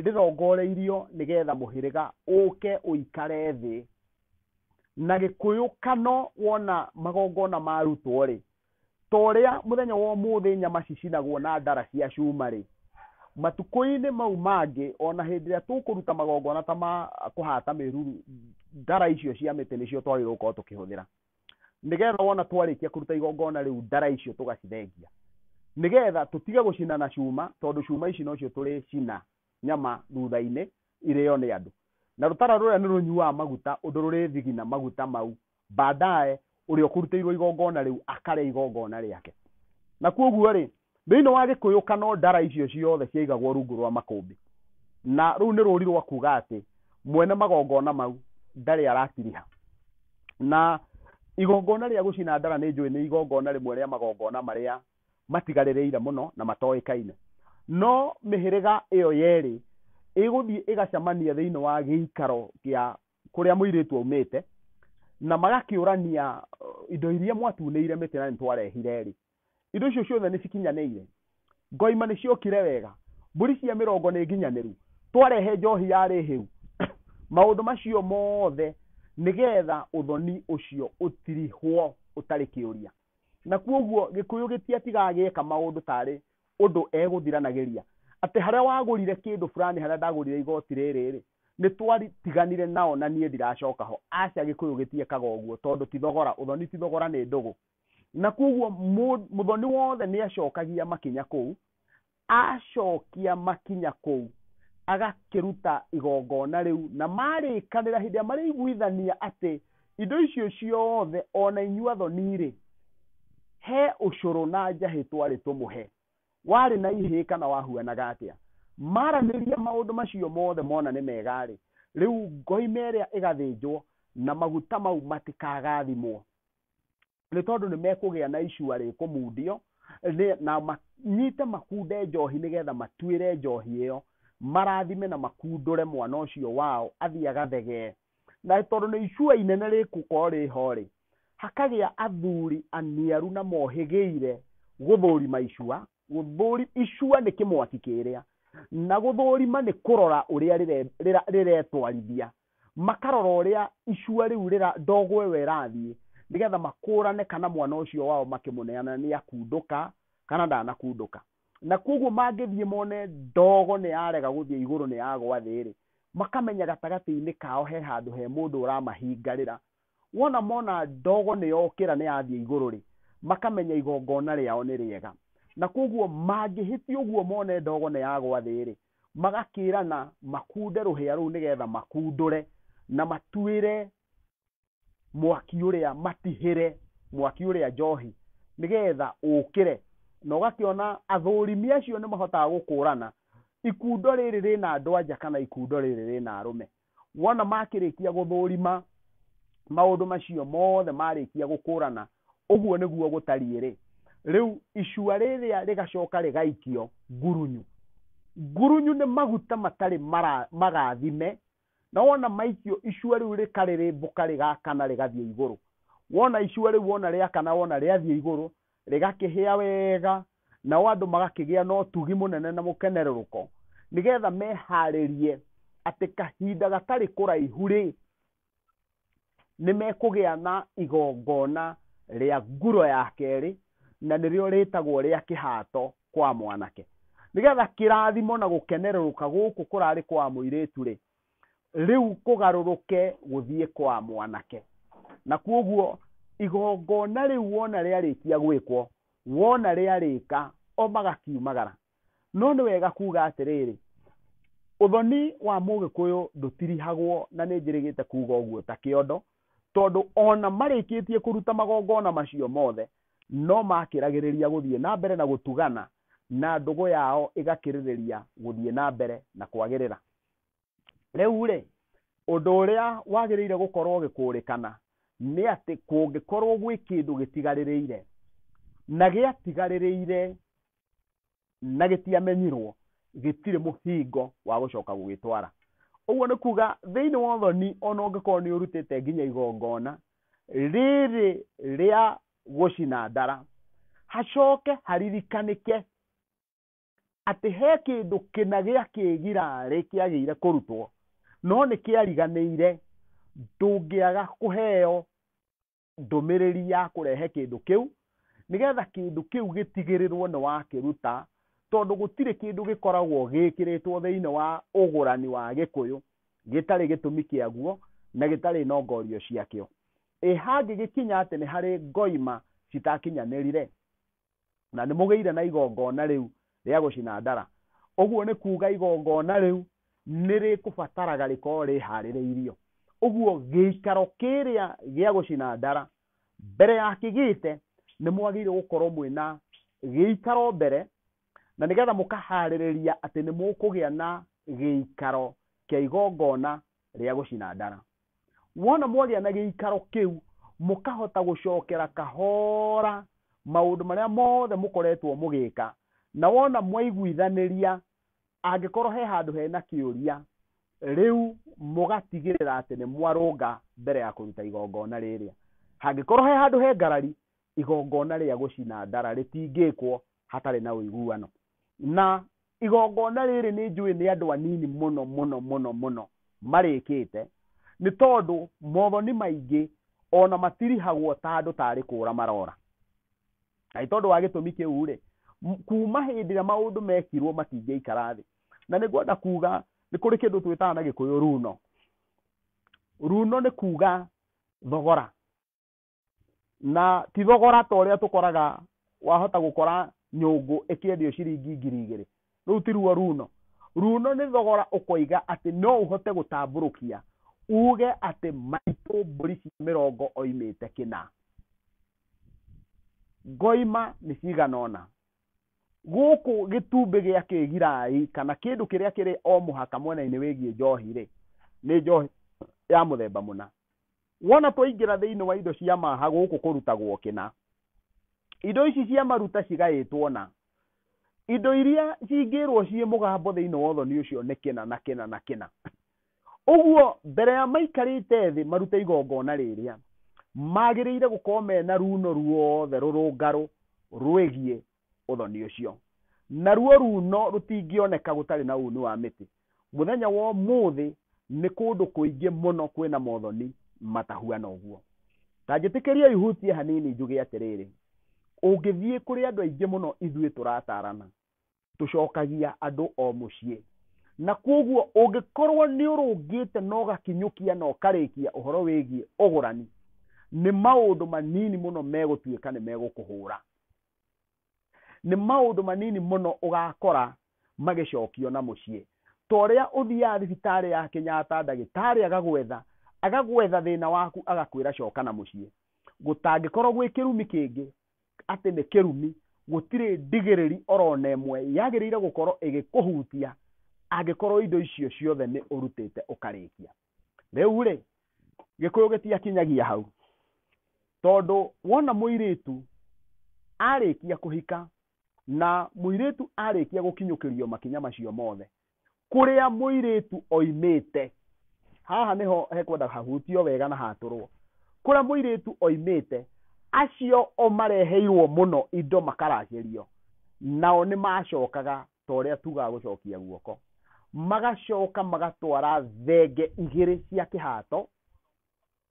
rĩrongoreirio nĩgetha mũhĩrĩga ũke ũikare thĩ na gĩkũyũ kano wona magongona marutwo rĩ ta ũrĩa mũthenya wa ũmũthĩ nyama cicinagwo na ndara cia cuma rĩ matukũ-inĩ mau mangĩ ona hĩndĩ ĩrĩa tũkũruta magongona ta ma kũhata mĩruru ndara icio cia mĩtĩ nĩcio twagĩrĩirwo gũkorwo tũkĩhũthĩra nĩgetha wona twarĩkia kũruta igongona rĩu ndara icio tũgacithengia nĩgetha tũtige gũcina na cuma tondũ cuma ici nocio tũrĩcina nyama thutha-inĩ irĩo nĩ andũ na rũtara rũrĩa nĩ rũnyuaga maguta ũndũ rũrĩthigina maguta mau baadaye ũrĩa ũkũrutĩirwo igongona rĩu akarĩa igongona rĩake na kwoguo rĩ Thĩinĩ wa Gĩkũyũkano ndara icio ciothe ciaigagwo rungu rwa makũmbĩ. Na rũu nĩ rũũri rwa kuuga atĩ mwene magongona mau ndarĩ arakiriha. Na igongona rĩa gũcina ndara nĩ njũĩ nĩ igongona rĩmwe rĩa magongona marĩa matigarĩrĩire mũno na matoĩkaine. No mĩhĩrĩga ĩyo yerĩ ĩgũthiĩ ĩgacamania thĩinĩ wa gĩikaro gĩa kũrĩa mũirĩtu aumĩte na magakĩũrania indo iria mwatunĩire mĩtĩ na nĩ twarehire-rĩ, indo icio ciothe nĩ cikinyanĩire ngoima nĩ ciokire wega mbũri cia mĩrongo nĩ nginyanĩru twarehe njohi yarĩ hĩu maũndũ macio mothe nĩgetha ũthoni ũcio ũtirihwo ũtarĩ kĩũria na kuoguo gĩkũyũ gĩtiatigaga gĩeka maũndũ tarĩ ũndũ egũthiranagĩria atĩ harĩa wagũrire kĩndũ fulani harĩa ndagũrire igoti rĩrĩ rĩ nĩ twatiganire nao na niĩ ndiracoka ho aca gĩkũyũ gĩtiekaga ũguo tondũ ti thogora ũthoni ti thogora nĩ ndũgũ na koguo mũ- mũthoni wothe nĩ acokagia makinya kũu acokia makinya kũu agakĩruta igongona rĩu na marĩkanĩra hĩndĩ ĩrĩa marĩiguithania atĩ indo icio ciothe ona inyuĩ athoni-rĩ he ũcũrũ na njahĩ twarĩ tũmũhe warĩ na ihĩĩ kana wahuanaga atĩa maranĩria maũndũ macio mothe mona nĩ mega-rĩ rĩu ngoime ĩrĩa ĩgathĩnjwo na maguta mau matikagathimwo nĩ tondũ nĩ mekũgĩa na icua rĩkũmundio nĩ- na manyite makunde njohi nĩgetha matuĩre njohi ĩyo marathime na makundũre mwana ũcio wao athiĩ agathegee na tondũ nĩ icua inene rĩkũkorwo rĩho-rĩ hakagĩa athuri aniaru na mohĩgĩire gũthũrima icua gũthũri icua nĩ kĩmwaki kĩrĩa na gũthũrima nĩ kũrora ũrĩa rĩre- rĩra- rĩretwarithia makarora ũrĩa icua rĩu rĩra ndogo ĩyo ĩrathiĩ nĩgetha makũrane kana mwana ũcio wao makĩmũneana nĩ akundũka kana ndanakundũka. Na kwoguo mangĩthiĩ mone ndogo nĩ yarega gũthiĩ igũrũ nĩ yagwa thĩ-rĩ, makamenya gatagatĩ-inĩ kao he handũ he mũndũ ũramahingarĩra Wona mona ndogo nĩyokĩra nĩyathiĩ igũrũ-rĩ, makamenya igongona rĩao nĩ rĩega. Na kwoguo mangĩhĩtia ũguo mone ndogo nĩyagwa thĩ-rĩ, magakĩrana makunde rũhĩa rũu nĩgetha makundũre na matuĩre mwaki ũrĩa, matihĩre mwaki ũrĩa njohi nĩgetha ũkĩre. Na ũgakĩona athũrimi acio nĩmahotaga gũkũrana ikundo rĩrĩ rĩna andũ-a-nja kana ikundo rĩrĩ rĩna arũme. wona makĩrĩkia gũthũrima maũndũ macio mothe marĩkia gũkũrana ũguo nĩguo gũtariĩ-rĩ rĩu icua rĩrĩa rĩgacoka rĩgaikio ngurunyu ngurunyu nĩ maguta matarĩ mara- magathime na wona maikio icua rĩu rĩkarĩrĩmbũka rĩgakana rĩgathiĩ igũrũ wona icua rĩu wona rĩakana wona rĩathiĩ igũrũ rĩgakĩhĩa wega, nao andũ magakĩgĩa na ũtugi mũnene na mũkenerũrũko, nĩgetha meharĩrie atĩ kahinda gatarĩ kũraihu rĩ, nĩ mekũgĩa na igongona rĩa nguro ya kerĩ, na nĩrĩo rĩtagwo rĩa kĩhato kwa mwanake. Nĩgetha kĩrathimo na gũkenerũrũka gũkũ kũrarĩ kwa mũirĩtu rĩ, rĩu kũgarũrũke gũthiĩ kwa mwanake na kuoguo igongona rĩu wona rĩarĩkia gwĩkwo wona rĩarĩka o magakiumagara no nĩ wega kuga atĩrĩrĩ ũthoni wa mũgĩkũyũ ndũtirihagwo na nĩ njĩrĩgĩte kuga ũguo ta kĩondo tondũ ona marĩkĩtie kũruta magongona macio mothe no makĩragĩrĩria gũthiĩ na mbere na gũtugana na ndũgũ yao ĩgakĩrĩrĩria gũthiĩ na mbere na kwagĩrĩra rĩu rĩ ũndũ ũrĩa wagĩrĩire gũkorwo ũgĩkũrĩkana nĩ atĩ kũngĩkorwo gwĩ kĩndũ gĩtigarĩrĩire na gĩatigarĩrĩire na gĩtiamenyirwo gĩtirĩ mũhingo wa gũcoka gũgĩtwara ũguo nĩ kuga thĩinĩ wa ũthoni ona ũngĩkorwo nĩ ũrutĩte nginya igongona rĩrĩ rĩa gũcina ndara hacoke haririkanĩke atĩ he kĩndũ kĩna gĩa kĩgirarĩ kĩagĩire kũrutwo no nĩ kĩariganĩire ndũngĩaga kũheo ndũmĩrĩri ya kũrehe kĩndũ kĩu nĩgetha kĩndũ kĩu gĩtigĩrĩrwo nĩ wakĩruta tondũ gũtirĩ kĩndũ gĩkoragwo gĩkĩrĩtwo thĩinĩ wa ũgũrani wa gĩkũyũ gĩtarĩ gĩtũmi kĩaguo na gĩtarĩ na ngorio ciakĩo. Ĩ hangĩgĩkinya atĩ nĩ harĩ ngoima citakinyanĩrire? na nĩ mũgĩire na igongona rĩu rĩa gũcina ndara. Ũguo nĩ kuuga igongona rĩu nĩ rĩkũbataraga rĩkorwo rĩharĩrĩirio. Ũguo gĩikaro kĩrĩa gĩa gũcina ndara, mbere ya kĩgĩte, nĩ mwagĩrĩirwo gũkorwo mwĩna gĩikaro mbere, na nĩgetha mũkaharĩrĩria atĩ nĩ mũkũgĩa na gĩikaro kĩa igongona rĩa gũcina ndara. Wona mwagĩa na gĩikaro kĩu, mũkahota gũcokera kahora maũndũ marĩa mothe mũkoretwo mũgĩka, na wona mwaiguithanĩria, angĩkorwo he handũ hena kĩũria, rĩu mũgatigĩrĩra atĩ nĩ mwarũnga mbere ya kũruta igongona rĩrĩa. Hangĩkorwo he handũ he ngarari, igongona rĩa gũcina ndara rĩtingĩkwo hatarĩ na ũiguano na igongona rĩrĩ nĩ njũĩ nĩ andũ anini mũno mũno mũno mũno marĩkĩte nĩ tondũ mothoni maingĩ ona matirihagwo ta andũ tarĩ kũra marora na nĩ tondũ wa gĩtũmi kĩu rĩ kuma hĩndĩ ĩrĩa maũndũ mekirwo matingĩikara thĩ na nĩ ngwenda kuga nĩ kũrĩ kĩndũ twĩtaga na gĩkũyũ runo runo nĩ kuga thogora na ti thogora ta ũrĩa tũkoraga wahota gũkora nyũngũ ĩkĩendio ciringi ngiri igĩrĩ rĩu tiruo runo runo nĩ thogora ũkoiga atĩ no ũhote gũtambũrũkia uge atĩ maitũ mbũri cia mĩrongo oimĩte kĩna ngoima nĩ cigana ũna gũkũ gĩtumbĩ gĩa kĩgirai kana kĩndũ kĩrĩa kĩrĩ o mũhaka mwena-inĩ wĩgiĩ njohi rĩ nĩ njohi ya mũthemba mũna Wona twaingĩra thĩinĩ wa indo cia maha gũkũ kũrutagwo kĩna, indo ici cia maruta cigaĩtwo na indo iria cingĩrwo ciĩ mũgambo thĩinĩ wa ũthoni ũcio nĩ kĩna na kĩna na kĩna. Ũguo mbere ya maikarĩte thĩ marute igongona rĩrĩa, magĩrĩire gũkorwo mena runo ruothe rũrũngarũ rwĩgiĩ ũthoni ũcio. Naruo ruuno rũtingĩoneka gũtarĩ na uuni wa mĩtĩ. Mũthenya wa ũmũthĩ nĩ kũndũ kũingĩ mũno kwĩ na mothoni matahuana ũguo. Ta njĩtĩkĩriei hutie hanini njuge atĩrĩrĩ, ũngĩthiĩ kũrĩ andũ aingĩ mũno ithuĩ tũrataarana, tũcokagia andũ o mũciĩ. Na kwoguo ũngĩkorũo nĩ ũrũngĩte na ũgakinyũkia na ũkarĩkia ũhoro wĩgiĩ ũgũrani, nĩ maũndũ manini mũno megũtuĩka nĩ megũkũhũũra. nĩ maũndũ manini mũno ũgakora magĩcokio na mũciĩ ta ũrĩa ũthiaga thibitarĩ ya Kenyatta ndagĩtarĩ agagwetha agagwetha thĩna waku agakwĩra coka na mũciĩ gũtangĩkorwo gwĩ kĩrumi kĩngĩ atĩ nĩ kĩrumi gũtirĩ ndigĩrĩri orona ĩmwe yagĩrĩire gũkorwo ĩgĩkũhutia angĩkorwo indo icio ciothe nĩ ũrutĩte ũkarĩkia rĩu rĩ gĩkũyũ gĩtiakinyagia hau tondũ wona mũirĩtu arĩkia kũhika na mũirĩtu arĩkia gũkinyũkĩrio makinya macio mothe kũrĩa mũirĩtu oimĩte haha nĩho hekwenda hahutio wega na hatũrwo kũrĩa mũirĩtu oimĩte acio o mareheirwo mũno indo makaragĩrio nao nĩ macokaga ta ũrĩa tugaga gũcokia guoko magacoka magatwara thenge igĩrĩ cia kĩhato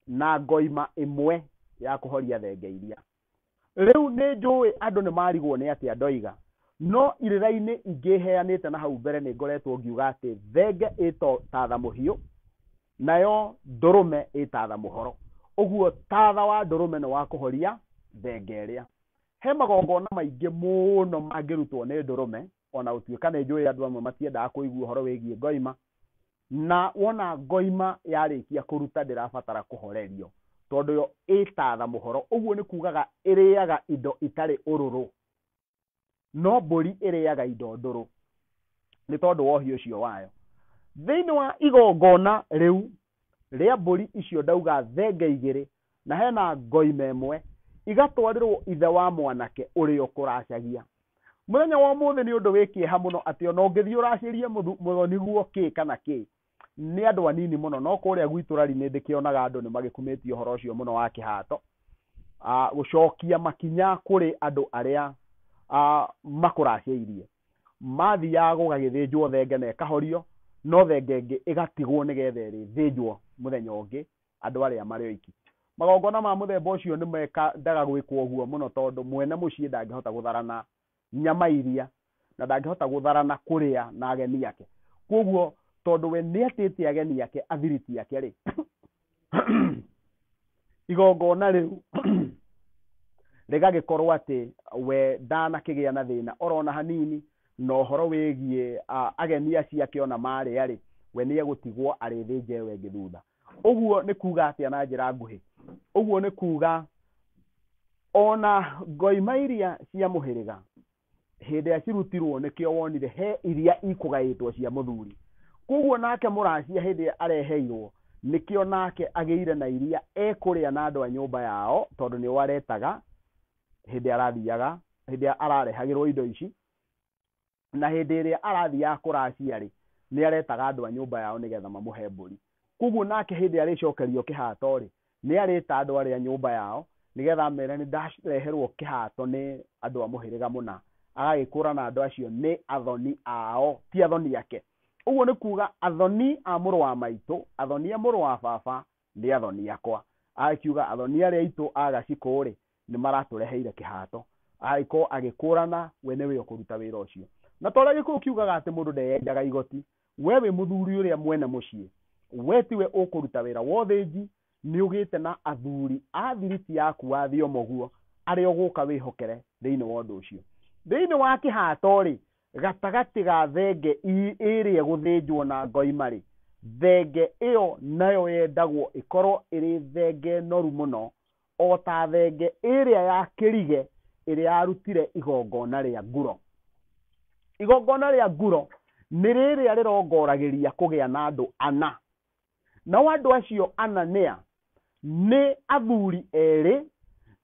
na ngoima ĩmwe ya kũhoria thenge iria rĩu nĩ njũĩ andũ nĩ marigwo nĩ atĩa ndoiga no irĩra-inĩ ingĩ heanĩte na hau mbere nĩ ngoretwo ngiuga atĩ thenge ĩto tatha mũhiũ nayo ndũrũme ĩtatha mũhoro ũguo tatha wa ndũrũme nĩ wa kũhoria thenge ĩrĩa He magongona maingĩ mũno mangĩrutwo nĩ ndũrũme, o na gũtuĩka nĩ njũĩ andũ amwe matiendaga kũigua ũhoro wĩgiĩ ngoima, na wona ngoima yarĩkia kũruta ndĩrabatara kũhorerio, tondũ yo ĩ ta thamũhoro, ũguo nĩ kuugaga ĩrĩaga indo itarĩ ũrũrũ. No mbũri ĩrĩaga indo ndũrũ nĩ tondũ wa ũhiũ ũcio wayo. Thĩinĩ wa igongona rĩu rĩa mbũri icio ndauga thenge igĩrĩ na hena ngoima ĩmwe igatwarĩrwo ithe wa mwanake ũrĩa ũkũracagia mũthenya wa ũmũthĩ nĩ ũndũ wĩ kĩeha mũno atĩ ona ũngĩthiĩ ũracĩrie mũthoni guo kĩ kana kĩ nĩ andũ anini mũno no kũrĩa gwitũ rari nĩ ndĩkĩonaga andũ nĩ magĩkumĩtie ũhoro ũcio mũno wa kĩhato gũcokia makinya kũrĩ andũ arĩa makũracĩirie mathiaga gũgagĩthĩnjwo thenge na ĩkahorio, no thenge ĩngĩ ĩgatigwo nĩgetha ĩrĩthĩnjwo mũthenya ũngĩ andũ arĩa marĩ oiki. Magongona ma mũthemba ũcio nĩ mendaga gwĩkwo ũguo mũno tondũ mwene mũciĩ ndangĩhota gũtharana nyama iria, na ndangĩhota gũtharana kũrĩa na ageni ake. Kwoguo tondũ we nĩ etĩte ageni ake athiriti ake-rĩ, igongona rĩu rĩgagĩkorwo atĩ we ndanakĩgĩa na thĩna orona hanini na ũhoro wĩgiĩ ah, ageni acio ake ona marĩa-rĩ we nĩ egũtigwo arĩthĩnje we ĩngĩ thutha ũguo nĩ kuga atĩa na njĩra nguhĩ ũguo nĩ kuga ona ngoima iria cia mũhĩrĩga hĩndĩ ĩrĩa cirutirwo nĩkĩo wonire he iria ikũgaĩtwo cia mũthuri koguo nake mũracia hĩndĩ ĩrĩa areheirwo nĩkĩo nake agĩire na iria ekũrĩa na andũ a nyũmba yao tondũ nĩo aretaga hĩndĩ ĩrĩa arathiaga hĩndĩ ĩrĩa ararehagĩrwo indo ici na hĩndĩ ĩrĩa arathiaga kũracia rĩ nĩ aretaga andũ a nyũmba yao nĩgetha mamũhe mbũri Kwoguo nake hĩndĩ ĩrĩa arĩcokerio kĩhaato-rĩ, nĩarĩĩta andũ arĩa nyũmba yao, nĩgeetha amere, Nĩndareherwo kĩhaato nĩ andũ a mũhĩrĩga mũna. Agagĩkũũrana andũ acio nĩ athoni ao, ti athoni ake. Ũguo nĩ kuuga athoni a mũrũ wa maitũ, athoni a mũrũ wa baba, nĩ athoni akwa. Agakiuga athoni arĩa aitũ a gacikũ-rĩ, nĩ maratũreheire kĩhaato, agagĩkorwo agĩkũrana we nĩwe ũkũruta wĩra ũcio. Na ta ũrĩa Gĩkũyũ kiugaga atĩ mũndũ ndeyenjaga igoti, we wĩ mũthuri ũrĩa mwene mũciĩ, we tiwe ũkũruta wĩra wa ũthĩnji, nĩ ũgĩte na athuri a thiriti yaku wa Thiomo guo, arĩa ũgũka wĩhokere thĩinĩ wa ũndũ ũcio. Thĩinĩ wa kĩhaato-rĩ, gatagatĩ ga thenge ĩrĩa ĩgũthĩnjwo na ngoima-rĩ, thenge ĩyo nayo yendagwo ĩkorwo ĩrĩ thenge noru mũno, o ta thenge ĩrĩa ya kĩrige ĩrĩa yarutire igongona rĩa nguro igongona rĩa nguro nĩ rĩrĩa rĩrongoragĩria kũgĩa na andũ ana nao andũ acio ana nĩa nĩ athuri erĩ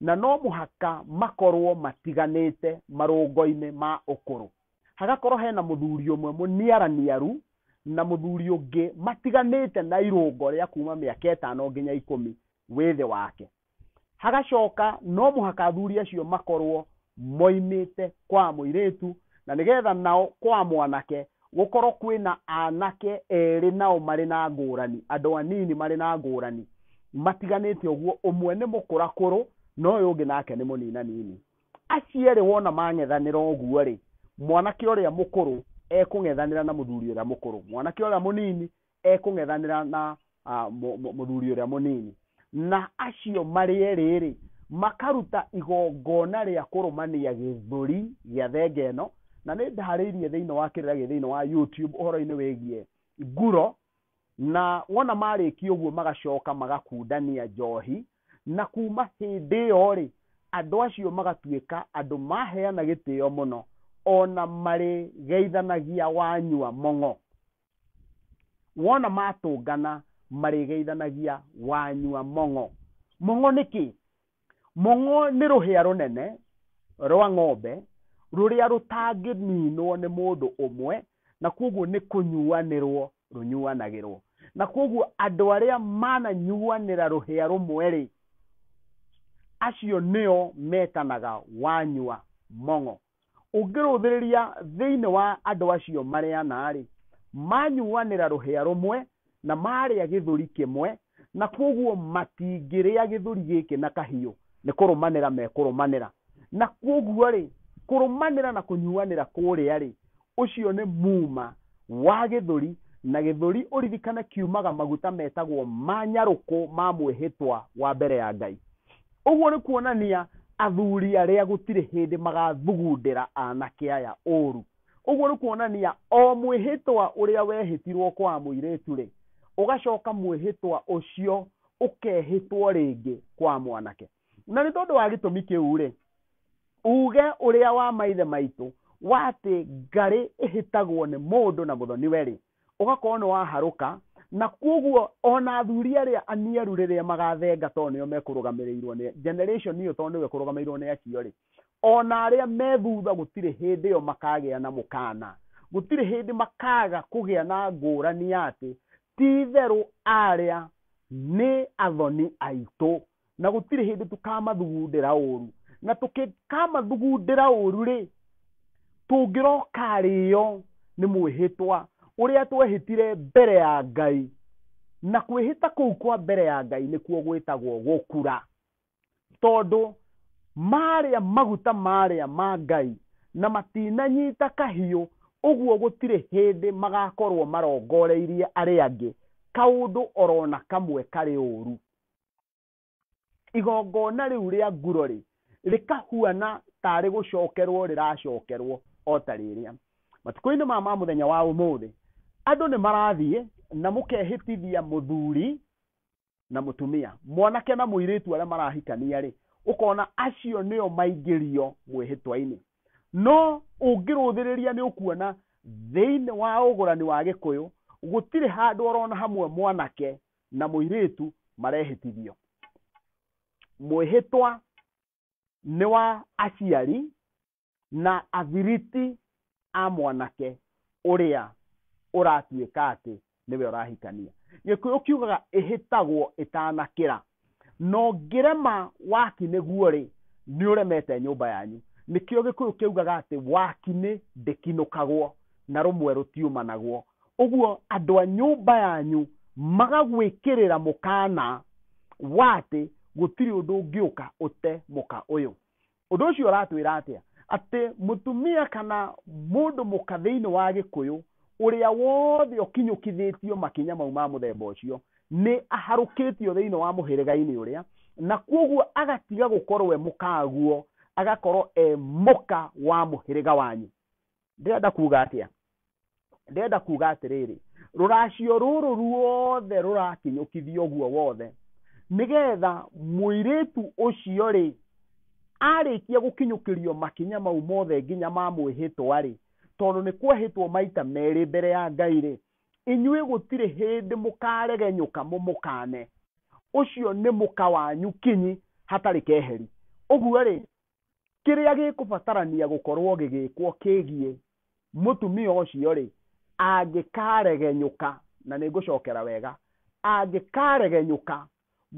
na no mũhaka makorwo matiganĩte marũngo-inĩ ma ũkũrũ hagakorwo hena mũthuri ũmwe mũniaraniaru na mũthuri ũngĩ matiganĩte na irũngo rĩa kuma mĩaka ĩtano nginya ikũmi wĩthĩ wake. Hagacoka no mũhaka athuri acio makorwo moimĩte kwa mũirĩtu na nĩgetha nao kwa mwanake gũkorwo kwĩna anake erĩ nao marĩ na ngũrani, andũ anini marĩ na ngũrani matiganĩte ũguo, ũmwe nĩ mũkũrakũrũ na ũyũ ũngĩ nake nĩ mũninanini. Acio erĩ wona mang'ethanĩra ũguo-rĩ, mwanake ũrĩa mũkũrũ ekũng'ethanĩra na mũthuri ũrĩa mũkũrũ, mwanake ũrĩa mũnini ekũng'ethanĩra na ah, mũ- mũ- mũthuri ũrĩa mũnini na acio marĩ erĩ-rĩ makaruta igongona rĩa kũrũmania gĩthũri gĩa thenge ĩno na nĩ ndarĩirie thĩinĩ wa kĩrĩra gĩ thĩinĩ wa youtube ũhoro-inĩ wĩgiĩ nguro na wona marĩkia ũguo magacoka magakundania njohi na kuma hĩndĩ ĩyo rĩ andũ acio magatuĩka andũ maheana gĩtĩo mũno ona marĩgeithanagia wanyua mũng'o wona matũngana marĩgeithanagia wanyua mong'o mong'o nĩ kĩ mong'o nĩ rũhĩa rũnene rwa ng'ombe rũrĩa rũtangĩninwo nĩ mũndũ ũmwe na kwoguo nĩ kũnyuanĩrwo rũnyuanagĩrwo na kwoguo andũ arĩa mananyuanĩra rũhĩa rũmwe rĩ acio nĩo metanaga wanyua mong'o Ũngĩrũthĩrĩria thĩinĩ wa andũ acio marĩ ana-rĩ, maanyuanĩra rũhĩa rũmwe na maarĩa gĩthũri kĩmwe, na kwoguo matingĩrĩa gĩthũri gĩkĩ na kahiũ, nĩ kũrũmanĩra mekũrũmanĩra. Na kwoguo-rĩ, kũrũmanĩra na kũnyuanĩra kũrĩa-rĩ, Ũcio nĩ muma wa gĩthũri, na gĩthũri ũririkane kiumaga maguta metagwo ma nyarũkũ ma mwĩhĩtwa wa mbere ya Ngai. Ũguo nĩ kuonania athuri arĩa gũtirĩ hĩndĩ magathugundĩra anake aya ũũru. Ũguo nĩ kuonania o mwĩhĩtwa ũrĩa wehĩtirwo kwa mũirĩtu-rĩ, ũgacoka mwĩhĩtwa ũcio ũkehĩtwo rĩngĩ kwa mwanake. na nĩ tondũ wa gĩtũmi kĩu-rĩ uge ũrĩa wa maithe maitũ wa atĩ ngarĩ ĩhĩtagwo nĩ mũndũ na mũthoniwe-rĩ ũgakorwo nĩ waharũka na kwoguo ona athuri arĩa aniaru rĩrĩa magathenga tondũ nĩo mekũrũgamĩrĩirwo nĩ generation ĩyo tondũ nĩwe kũrũgamĩrĩirwo nĩ acio-rĩ ona arĩa me thutha gũtirĩ hĩndĩ ĩyo makagĩa na mũkana gũtirĩ hĩndĩ makaga kũgĩa na ngũrani ya atĩ ti itherũ arĩa nĩ athoni aitũ na gũtirĩ hĩndĩ tũkamathugundĩra ũru na tũkĩkamathugundĩra ũru rĩ tũngĩrokarĩo nĩ mwĩhĩtwa ũrĩa twehĩtire mbere ya ngai na kwĩhĩta kũu kwa mbere ya ngai nĩkuo gwĩtagwo gũkura tondũ marĩa maguta marĩa ma ngai na matinanyita kahiũ ũguo gũtirĩ hĩndĩ magakorwo marongoreirie arĩa angĩ kaũndũ orona kamwe karĩ ũru igongona rĩu rĩa ngurorĩ rĩkahuana tarĩ gũcokerwo rĩracokerwo o ta rĩrĩa matukũ-inĩ ma ma mũthenya wa ũmũthĩ andũ nĩ marathiĩ na mũkehĩtithia mũthuri na mũtumia mwanake na mũirĩtu arĩa marahikania rĩ ũkona acio nĩo maingĩrio mwĩhĩtwa-inĩ no ũngĩrũthĩrĩria nĩ ũkuona thĩinĩ wa ũgũrani wa gĩkũyũ gũtirĩ handũ orona hamwe mwanake na mũirĩtu marehĩtithio mwĩhĩtwa nĩ wa aciari na athiriti a mwanake ũrĩa ũratuĩka atĩ nĩwe ũrahikania gĩkũyũ kiugaga ĩhĩtagwo ĩtanakĩra no ngĩrema waki nĩguo rĩ nĩ ũremete nyũmba yanyu nĩkĩo gĩkũyũ kĩugaga atĩ waki nĩ ndĩkinũkagwo na rũmwe rũtiumanagwo ũguo andũ a nyũmba yanyu magagwĩkĩrĩra mũkana wa atĩ gũtirĩ ũndũ ũngĩũka ũte mũka ũyũ ũndũ ũcio ũratwĩra atĩa atĩ mũtumia kana mũndũ mũka thĩinĩ wa gĩkũyũ ũrĩa wothe ũkinyũkithĩtio makinya mau ma mũthemba ũcio nĩ aharũkĩtio thĩinĩ wa mũhĩrĩga-inĩ ũrĩa na kwoguo agatiga gũkorwo e mũkaguo agakorwo e mũka wa mũhĩrĩga wanyu ndĩrenda kuga atĩa ndĩrenda kuga atĩrĩrĩ rũracio rũrũ ruothe rũrakinyũkithio ũguo wothe nĩgetha mũirĩtu ũcio rĩ arĩkia gũkinyũkĩrio makinya mau mothe nginya ma mwĩhĩtwa rĩ tondũ nĩ kwehĩtwo maita merĩ mbere ya ngai rĩ inyuĩ gũtirĩ hĩndĩ mũkaregenyũka mũmũkane ũcio nĩ mũka wanyu kinyi hatarĩ keheri ũguo rĩ kĩrĩa gĩkũbatarania gũkorwo gĩgĩkwo kĩgiĩ mũtumia ũcio rĩ angĩkaregenyũka na nĩ ngũcokera wega angĩkaregenyũka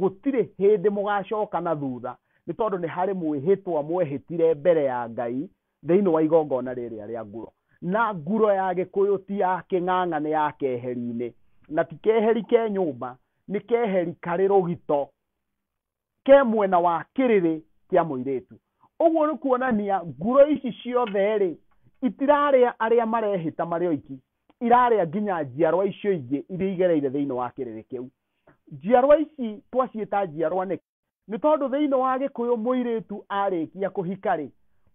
gũtirĩ hĩndĩ mũgacoka na thutha nĩ tondũ nĩ harĩ mwĩhĩtwa mwehĩtire mbere ya ngai thĩinĩ wa igongona rĩrĩa rĩa nguro na nguro ya gĩkũyũ ti ya kĩng'ang'a nĩ ya keheri-inĩ na ti keheri ke nyũmba nĩ keheri karĩ rũgito ke mwena wa kĩrĩrĩ kĩa mũirĩtu ũguo nĩ kuonania nguro ici ciothe rĩ itirarĩa arĩa marehĩta marĩ oiki irarĩa nginya njiarwa icio ingĩ iria igereire thĩinĩ wa kĩrĩrĩ kĩu njiarwa ici twaciĩta njiarwa nĩ nĩ tondũ thĩinĩ wa gĩkũyũ mũirĩtu arĩkia kũhika rĩ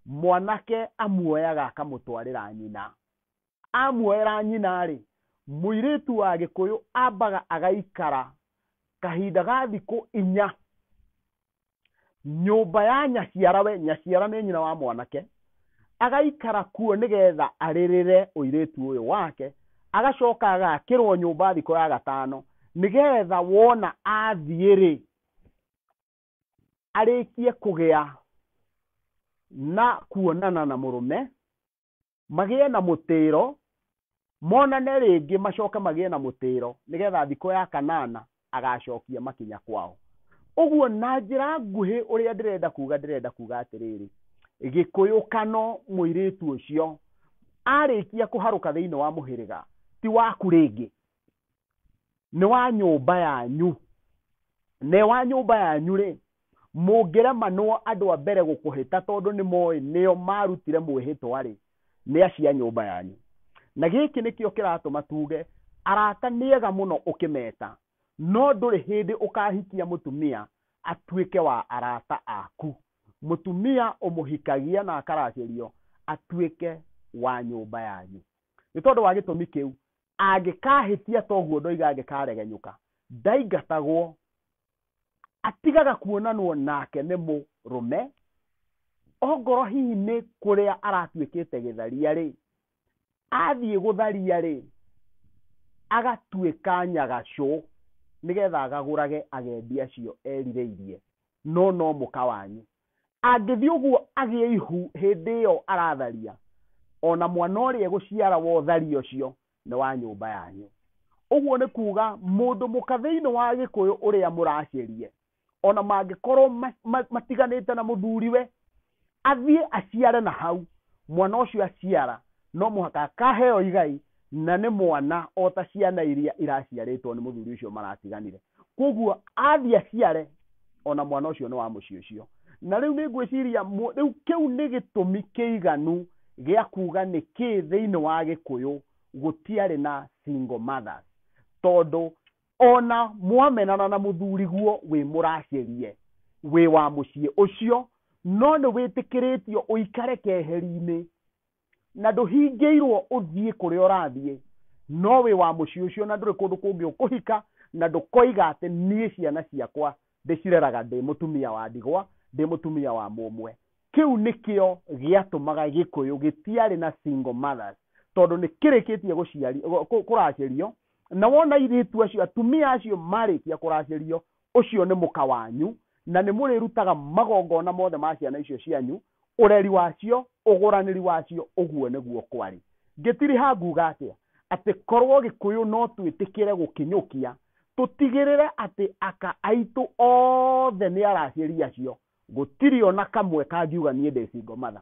mwanake amuoyaga akamũtwarĩra nyina amuoera nyina-rĩ, mũirĩtu wa Gĩkũyũ ambaga agaikara kahinda ga thikũ inya nyũmba ya nyaciara we nyaciara nĩ nyina wa mwanake agaikara kuo nĩgetha arĩrĩre ũirĩtu ũyũ wake agacoka agakĩrwo nyũmba thikũ ya gatano nĩgetha wona athiĩ-rĩ arĩkie kũgĩa na kuonana na mũrũme magĩe na mũtĩro monane rĩngĩ macoke magĩe na mũtĩro nĩgetha thikũ ya kanana agacokia makinya kwao ũguo na njĩra nguhĩ ũrĩa ndĩrenda kuga ndĩrenda kuga atĩrĩrĩ gĩkũyũkano mũirĩtu ũcio arĩkia kũharũka thĩinĩ wa mũhĩrĩga ti waku rĩngĩ nĩ wa nyũmba yanyu ne wa nyũmba yanyu rĩ mũngĩremanwo andũ a mbere gũkũhĩta tondũ nĩ moĩ nĩo marutire mwĩhĩtwa rĩ nĩ acia nyũmba yanyu na gĩkĩ nĩkĩo kĩratũma tuge arata nĩ ega mũno ũkĩmeta no ndũrĩ hĩndĩ ũkahikia mũtumia atuĩke wa arata aku mũtumia ũmũhikagia na akaracĩrio atuĩke wa nyũmba yanyu nĩ tondũ wa gĩtũmi kĩu Angĩkaahĩtia toguo ndoiga angĩkaregenyũka, ndaingatagwo, atigaga kuonanwo nake nĩ mũrũme, ongorwo hihi nĩ kũrĩa aratuĩkĩte gĩtharia-rĩ, athiĩ gũtharia-rĩ, agatuĩka nyagacũ, nĩgetha agagũrage agendi acio erirĩirie, no no mũka wanyu. Angĩthiĩ ũguo agĩe ihu hĩndĩ ĩyo aratharia, o na mwana ũrĩa egũciara wa ũtharia ũcio nĩ wa nyũmba yanyu. Ũguo nĩ kuuga mũndũ mũka thĩinĩ wa Gĩkũyũ ũrĩa mũracirie, o na mangĩkorwo matiganĩte na mũthuriwe, athiĩ aciare na hau, mwana ũcio aciara no mũhaka akaheo igai na nĩ mwana o ta ciana iria iraciarĩtwo nĩ mũthuri ũcio maratiganire. Kwoguo athiĩ aciare o na mwana ũcio nĩ wa mũciĩ ũcio. Na rĩu nĩ ngwĩciria, rĩu kĩu nĩ gĩtũmi kĩiganu gĩa kuuga nĩkĩ thĩinĩ wa Gĩkũyũ gũtiarĩ na single mothers. Tondũ o na mwamenana na mũthuriguo wĩ mũracirie, wĩ wa mũciĩ ũcio, no nĩ wĩtĩkĩrĩtio ũikare keheri-inĩ na ndũhingĩirwo ũthiĩ kũrĩa ũrathiĩ no wĩ wa mũciĩ ũcio na ndũrĩ kũndũ kũngĩ ũkũhika na ndũkoiga atĩ niĩ ciana ciakwa ndĩcireraga ndĩ mũtumia wa ndigwa ndĩ mũtumia wa mũmwe kĩu nĩkĩo gĩatũmaga gĩkũyũ gĩtiarĩ na single mothers tondũ nĩ kĩrĩkĩtie gũciari- kũ- kũ- kũracĩrio na wona irĩtu acio atumia acio marĩkia kũracĩrio Ũcio nĩ mũka wanyu, na nĩ mũrĩrutaga magongona mothe ma ciana icio cianyu, ũreri wacio, ũgũranĩri wacio, ũguo nĩguo kwarĩ. Ngĩtiriha nguuga atĩa? Atĩ korwo Gĩkũyũ no twĩtĩkĩre gũkinyũkia, tũtigĩrĩre atĩ aka aitũ othe nĩ aracĩri acio, gũtirĩ o na kamwe kangiuga niĩ ndĩ single mother.